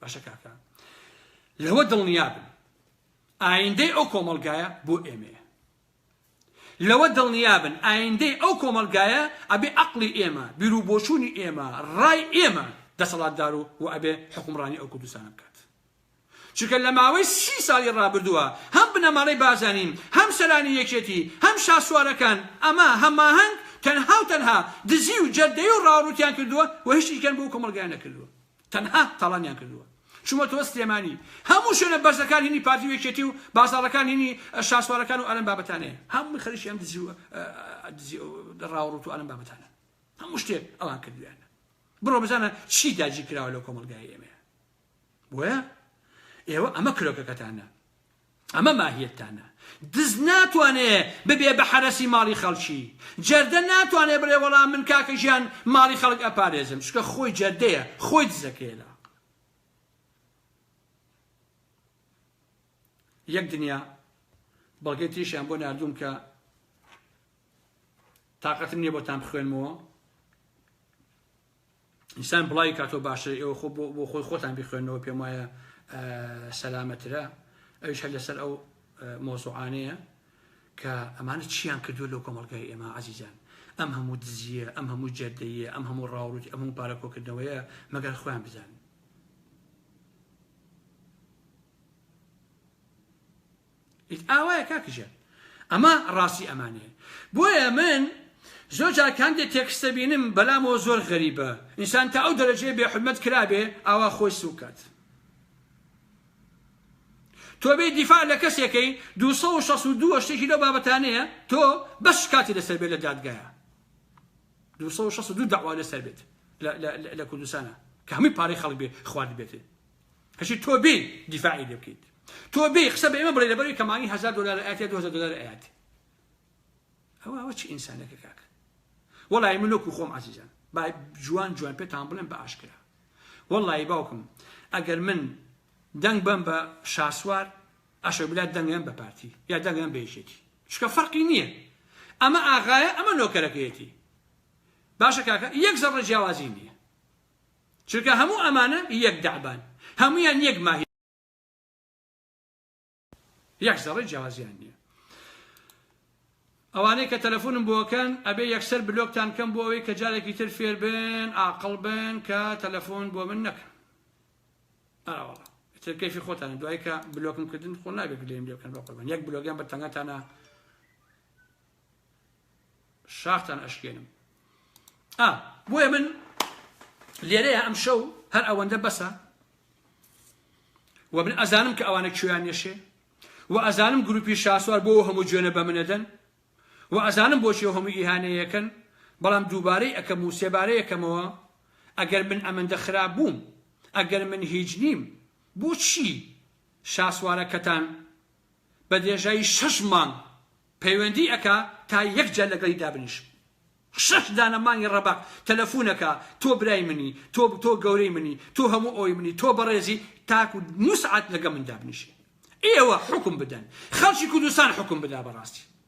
باشە کاکە لەوە دڵنیابن ئایندەی ئەو کۆمەڵگایە بۆ ئێمەیە لەوە دڵنیابن ئایندەی ئەو کۆمەلگایە ئەبێ عقلی ئێمە بیرو بۆچوونی ئێمە ڕای ئێمە دەسەڵاتدار و و ئەبێ حکومڕانی ئەو کوردستانە بکات چونکە لە ماوەی سی ساڵی ڕابردووە هەم بنەماڵەی بازانین هەم سەرانی یەکێتی هەم شاسوارەکان ئەمە هەماهەنگ تەنها و تەنها دزی و جەردەی و ڕاوڕوتیان کردووە و هیچیکەن بۆ کۆمەلگای نەکردووە تەنها تاڵانیان کردووە چوومەتەوە سلێمانی هەموو شوێنە بەرزەکان هینی پارتی و یەکێتی و بازاڕەکان هینی شاسوارەکان و ئەلەم بابەتانەیە هەمووی خەریکی ئەم دزی و دزی و ڕاوڕوت و ئەلەم بابەتانە هەموو شتێک ئەوان کردویانە بڕۆ بزانە چی داگیر کراوە لەو کۆمەلگای ئێمەیە بۆیە ئێوە ئەمە کرۆکەکەتانە ئەمە ماهیەتتانە. دز ناتوانێ ببێ بە حەرەسی ماڵی خەڵکی. جەردە ناتوانێ بڵێ وەڵا من کاکە ژیان ماڵی خەڵک ئەپارێزم. چونکە خۆی جەردەیە، خۆی دزەکەیە لە عەقڵ. یەک دنیا بەڵگەی تریشیان بۆ ناردووم کە تااقەتم نییە بۆتان بخوێنمەوە ئینسان بڵاوی کاتەوە باشتر ئێوە خۆ بۆ خۆی خۆتان بخوێنەوە پێم وایە سەلامەترە ئەوش هەر لەسەر ئەو مۆزوعانەیە کە ئەمانە چیان کردو لەو کۆمەلگای ئێمە عزیزان ئەم هەموو دزیە ئەم هەموو جەردەیە ئەم هەموو ڕاوروت ئەم هەموو پارەکۆکردنەوەیە مەگەر خۆیان بزانن ئیت ئاوایە کاک ژیار ئەمە ڕاستی ئەمانەیە بۆیە من زۆر جار کاندێ تێکست دەبینم بەلامەوە زۆر غەریبە ئینسان تا ئەو دەرەجەیە بێ حورمەت کرابێ ئاوا خۆی سووک کات تۆ بێ دیفاع لە کەسێکەی 262 شتێکی لەو بابەتانەیە تۆ بەس شکاتی لەسەر بێت لە دادگایە 262 داوا لەسەر بێت لە کوردستانە کە هەمووی پارەی خەڵک بێ خوارد بێتێ ئەچی تۆ بێ دیفاعی لێ بکەیت تۆ بێ قسە بە ئێمە بڵێ لەبەروی کەمانی هزار دلار ئاات یا 2000 دلار ئاات ئەوە ئەوە چی ئینسانەکە کاک وەڵی من لۆکو خۆم عزیزان با جوان جوان پێتان بڵێن بە ئاشکرا وەڵی باوکم ئەگەر من دەنگ بم بە شاسوار ئەشە بلا دەنگم بە پارتی یا دەنگم بێژێتی شکە فەرقی نییە ئەمە ئاغایە ئەمە نۆکەرەکەیەتی باشە کاکە یەک زەڕە جیاوازی نییە چونکە هەموو ئەمانە یەک دەعبان، هەموویان یەک ماهیەتن، یەک زەڕەی جیاوازیان نیە. ئەوانەی کە تەلەفونم بۆ ئەکەن ئەبێ یەکسەر بلۆکتان کەم بۆ ئەوەی کە جارێکی تر فێر بن ئاقڵ بن کە تەلەفون بۆ من نەکەن. ئەرا وەڵا. ئیتر کەیفی خۆتانە دوای کە بلۆکم کردن خۆ نابێ گلەییم لێ بکەن بەقوربان یەک بلۆگیان بە تەنگەتانە شاختان ئەشکێنم ئا بۆیە من لێرەیە ئەم شەو هەر ئەوەندە بەسە و من ئەزانم کە ئەوانە کوێیان نێشێ و ئەزانم گروپی شاسوار بۆ هەموو جوێنە بە منەدەن و ئەزانم بۆچی هەموو ئیهانەیەکەن بەڵام دووبارەی ئەەکەم و سێبارەیەکەمەوە ئەگەر من ئەمەندە خراپ بووم ئەگەر من هیچ نیم بۆچی شاسوارەکەتان بە درێژایی شەش مانگ پەیوەندی ئەکا تا یەک جار لەگەڵی دابنیشم شەش دانە مانگی ڕەبەق تەلەفون ئەکا تۆ برای منی تۆ تۆ گەورەی منی تۆ هەموو ئەوی منی تۆ بەڕێزی تاکو نوسعات لەگە من دابنیشێ ئێوە حوکم بدەن خەڵکی کوردستان حوکم بدا بەڕاستی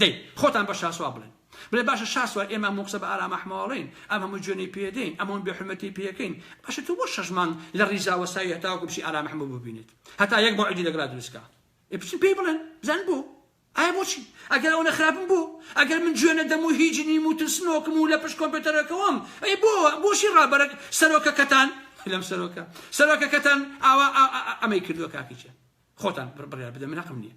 دەی خۆتان بە شاسوار بڵێن بڵێ باشە شاسوار ئێمە هەموو قسە بە ئارام ئەحمەواڵێین ئەم هەموو جوێنەی پێدەین ئەم هەموو بێحورمەتی پێکەین باشە تۆ بۆ شەش مانگ لە ڕیزا وەستاوی هەتاوەکو بچی ئارام ئەحمەو ببینێت هەتا یەک مەوعیدی لەگەڵا دروست کا ئێ بچن پێی بڵێن بزان بۆ ئایا بۆچی ئەگەر ئەوەنە خراپم بۆ ئەگەر من جوێ نەدەم و هیچ نیم و ترسنۆکم و لە پشت کۆمپیوتەرەکەوەم ئەی بۆ بۆچی ڕابەرە سەرۆکەکەتان لەم سەرۆکە سەرۆکەکەتان ئاوا ئەمەی کردووە کاکیچە خۆتان بڕیار بدە من هەقم نییە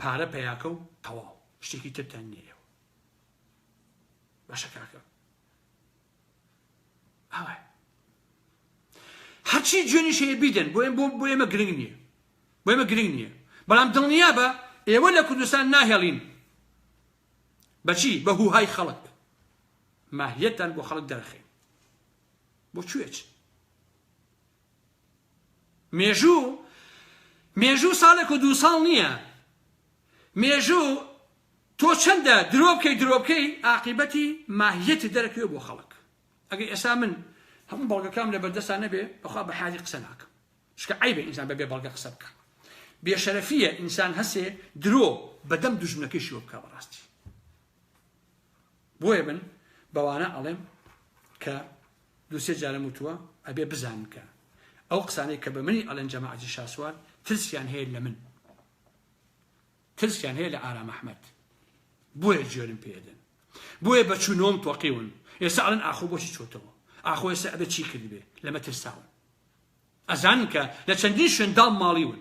پارە پەیاکە و تەواو شتێکی ترتان نیە ئێوە باشە کاکە ئاوە هەرچی جوێنی شەیە بیدەن بۆ بۆ بۆ ئێمە گرنگ نییە بۆ ئێمە گرنگ نییە بەڵام دڵنیا بە ئێوە لە کوردستان ناهێڵین بەچی بە هوهای خەڵک ماهیەتان بۆ خەڵک دەرخین بۆ کوێچ مێژوو مێژوو ساڵێک و دوو ساڵ نییە مێژوو تۆ چەندە درۆ بکەی درۆ بکەی ئاقیبەتی ماهیەتی دەرەکەوێ بۆ خەڵک ئەگەر ئێستا من هەموو بەڵگەکەم لە بەردەستا نەبێ بەخوا بە حالی قسە ناکەم شکە عیبە ئینسان بەبێ بەڵگە قسە بکە بێشەرەفیە ئینسان هەسێ درۆ بەدەم دوژمنەکەی شوە بکە بەڕاستی بۆیە من بەوانە ئەڵێم کە دوو سێ جارم وتووە ئەبێ بزانن کە ئەو قسانەی کە بە منی ئەڵێن جەماعەتی شاسوار ترسیان هەیە لە من ترسیان هەیە لە ئارام ئەحمەد بۆیە جوێنم پێدەن بۆیە بە چوونۆم تۆقیون ئێستا ئەڵێن ئاخۆ بۆچی چۆتەوە ئاخۆ ئێستا ئەبێ چی کردبێ لەمە ترساون ئەزانن کە لە چەندین شوێن داڵ ماڵیون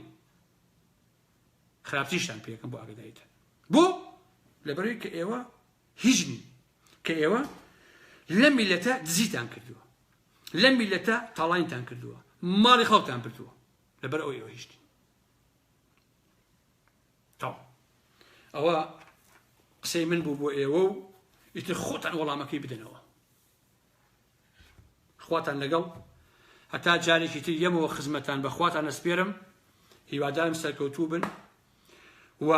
خراپتریشتان پێکەم بۆ ئاگداریتان بۆ لەبەروی کە ئێوە هیچ نین کە ئێوە لە میلەتە دزیتان کردووە لە میلەتە تاڵینتان کردووە ماڵی خەڵتان بردووە لەبەر ئەو ئێوە هیچ نین ئەوە قسەی من بوو بۆ ئێوە و ئیتر خۆتان وەڵامەکەی بدەنەوە خواتان لەگەڵ هەتا جارێکی تر یەمەوە خزمەتان بەخواتان ئەسپێرم هیوادارم سەرکەوتوو بن و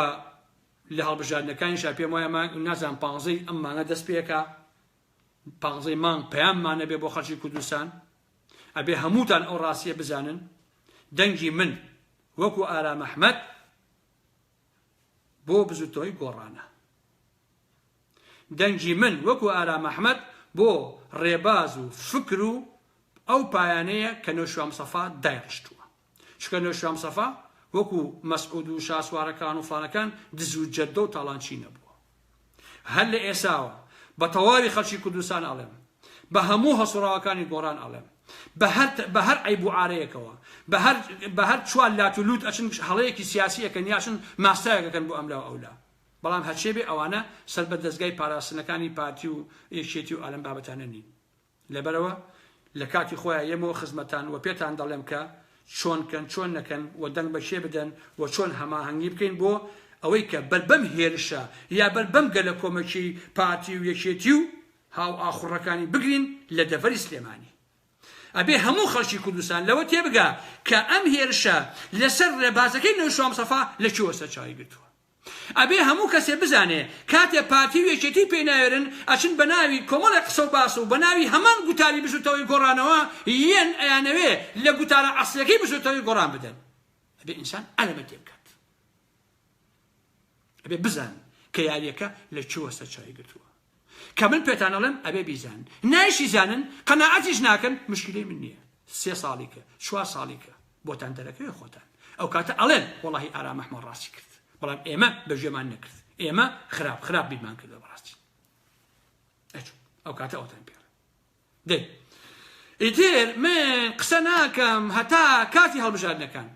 لە هەڵبژاردنەکانیشا پێم وایە نازان پانزەی ئەم مانە دەست پێکە پانزەی مانگ پەیاممانە بێ بۆ خەڵکی کوردستان ئەبێ هەمووتان ئەو ڕاستیە بزانن دەنگی من وەکو ئارام ئەحمد بۆ بزوتەوەی گۆڕانە دەنگی من وەکو ئارام ئەحمەد بۆ ڕێباز و فکر و ئەو پایانەیە کە نەوشیروان مستەفا دایڕشتووە. چونکە نەوشیروان مستەفا وەکو مەسعود و شاسوارەکان و فڵانەکان دز و جەردە و تاڵانچی نەبووە. هەر لە ئێساوە بە تەواوی خەڵکی کوردستان ئەڵێم، بە هەموو هەڵسوڕاوەکانی گۆڕان ئەڵێم، بە هەر بە هەر عەیب و عارەیەکەوە، بە هەر بە هەر چوار لات و لووت ئەچن هەڵەیەکی سیاسی ئەکەن یا ئەچن ماستاوێک ئەکەن بۆ ئەملا و ئەولا. بەڵام هەرچێ بێ ئەوانە سەر بە دەزگای پاراستنەکانی پارتی و یەکێتی و ئالەم بابەتانە نین لەبەرەوە لە کاتی خۆیان یەمەوە خزمەتان وە پێتان دەڵێم کە چۆن کەن چۆن نەکەن وە دەنگ بە کێ بدەن وە چۆن هەماهەنگی بکەین بۆ ئەوەی کە بەر بەم هێرشە یا بەر بەم گەلە کۆمەکی پارتی و یەکێتی و هاو ئاخوڕەکانی بگرین لە دەڤەری سلێمانی ئەبێ هەموو خەڵکی کوردستان لەوە تێبگا کە ئەم هێرشە لەسەر ڕێبازەکەی نەوشام سەفا لە کوێوە سەرچاوی گرتووە ئەبێ هەموو کەسێ بزانێ کاتێ پارتی و یەکێتی پێی ناوێرن ئەچن بەناوی کۆمەڵێ قسە و باس و بەناوی هەمان گوتاری بزوتەوەی گۆڕانەوە یەن ئەیانەوێ لە گوتارە ئەسڵیەکەی بزوتەوەی گۆڕان بدەن ئەبێ ئینسان ئەلەمە تێبکات ئەبێ بزان کە یاریەکە لە کوێوە سەرچاوی گرتووە. کە من پێتان ئەڵێم ئەبێ بیزانن نایشی زانن قەناعەتیش ناکەن مشکلەی من نییە سێ ساڵی کە چوار ساڵی کە بۆتان دەرەکەوێ خۆتان ئەو کاتە ئەڵێن وەڵی ئارام ئەحمە ڕاستی کرد بەڵام ئێمە بەژێمان نەکرد ئێمە خراپ خراپ بیرمان کردە بەڕاستی ئەو کاتە ئەوتان پێ دەی ئیتر من قسە ناکەم هەتا کاتی هەڵبژاردنەکان.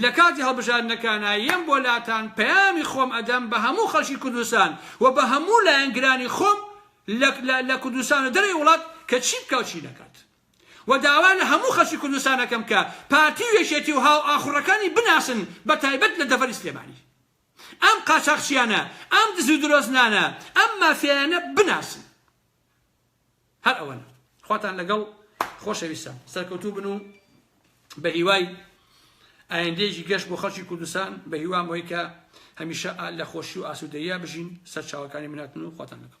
لە کاتی هەڵبژاردنەکانا یەم بۆ لاتان پەیامی خۆم ئەدەم بە هەموو خەڵکی کوردستان و بە هەموو لایەنگرانی خۆم لە لە کوردستان و دەرەوەی وڵات کە چی بکا و چی نەکات. و داوا لە هەموو خەڵکی کوردستان ئەکەم کە پارتی و یەکێتی و هاوئاخوڕەکانی بناسن بە تایبەت لە دەڤەری سلێمانی. ئەم قاچاخچیانە، ئەم دز و درۆزنانە، ئەم مافیایانە بناسن. هەر ئەوەنە خواتان لەگەڵ خۆشەویستان سەرکەوتوو بن و بە هیوای ئایندێکی گەشت بۆ خەڵکی کوردستان بە هیوام وی کە هەمیشە لە خۆشی و ئاسوودەیە بژین سەرچاوەکانی مناتن و خواتان لەگەڵ